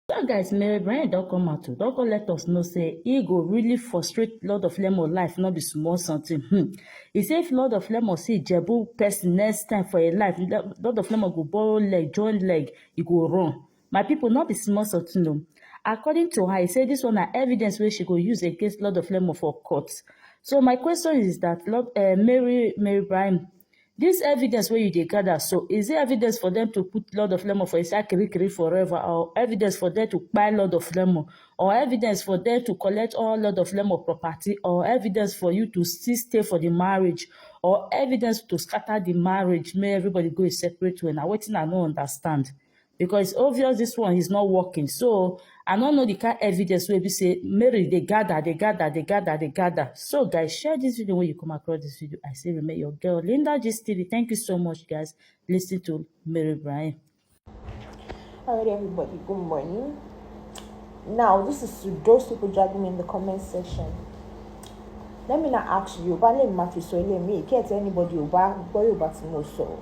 Well guys, Mary Bryan don come out o, don come let us know say e go really frustrate Lord of Lemon life no be small something. Hmm. He say if Lord of Lemon see Ijebu person next time for im life, Le- Lord of Lemon go borrow leg, join leg, e go run. My people, no be small something o. According to her, he say this one na evidence wey she go use against Lord of Lemon for court. So my question is that Lord, uh, Mary Mary Bryan, This evidence wey you dey gather so, is it evidence for them to put Lord of Lemon for inside Kirikiri forever or evidence for them to buy Lord of Lemon or evidence for them to collect all Lord of Lemon property or evidence for you to still stay for the marriage or evidence to scatter the marriage make everybody go a separate way na wetin I no understand. because obvious this one is not working so i don't know the kind evidence wey be say mary they gather they gather they gather they gather so guys share this video when you come across this video i say remain your girl linda gist tv thank you so much guys listen to mary brian all right everybody good morning now this is to those people dragging me in the comment section let me not ask you but let me mafi so let me get anybody who back boy back to so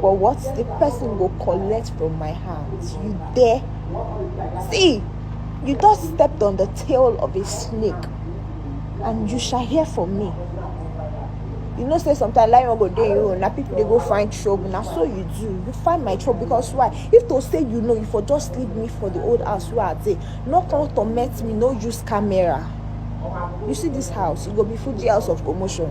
But what the person will collect from my hands, you dare? See, you thus stepped on the tail of a snake, and you shall hear from me. You know, say sometimes like go day you and people they go find trouble. Now so you do. You find my trouble because why? If to say you know, you for just leave me for the old house where I dey. No come torment me, no use camera. You see this house, it go be Fuji house of commotion.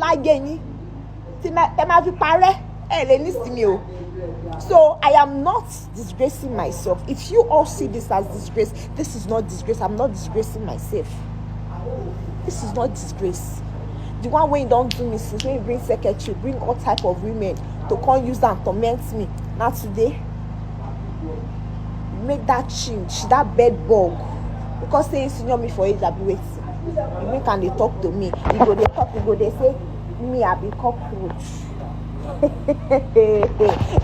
láyé yín tí ẹ máa fi parẹ́ ẹ lè nísìmí o so I am not disgracing myself if you all see this as disgrace this is not disgrace I'm not disgracing myself this is not disgrace the one wey don do me since when you bring secretary bring all type of women to come use am torment me na today make that change that bed bug because say he senior me for age abi wetin. You make am dey talk to me. You go dey talk, you go dey say me I be cockroach.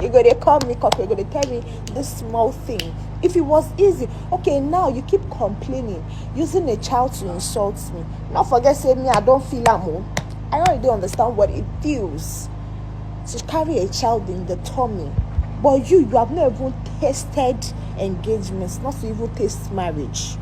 you go dey call me cockroach, you go dey tell me this small thing. If it was easy, okay, now you keep complaining, using a child to insult me. Not forget say me I don't feel am o. Oh. I already don't understand what it feels to carry a child in the tummy. But you, you have not even tasted engagements, not to even taste marriage.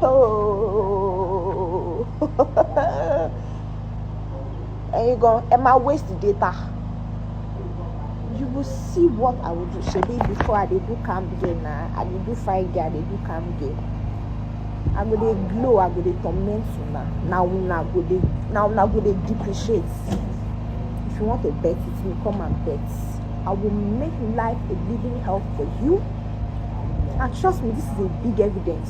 Oh. and you go, am I waste the data? You will see what I will do. Shebi before I did do camp game now, I did do fight game, I did do camp game. I go dey glow, I go dey torment you now. Now now go dey now now go dey depreciate. If you want to bet it, you come and bet. I will make life a living hell for you. And trust me, this is a big evidence.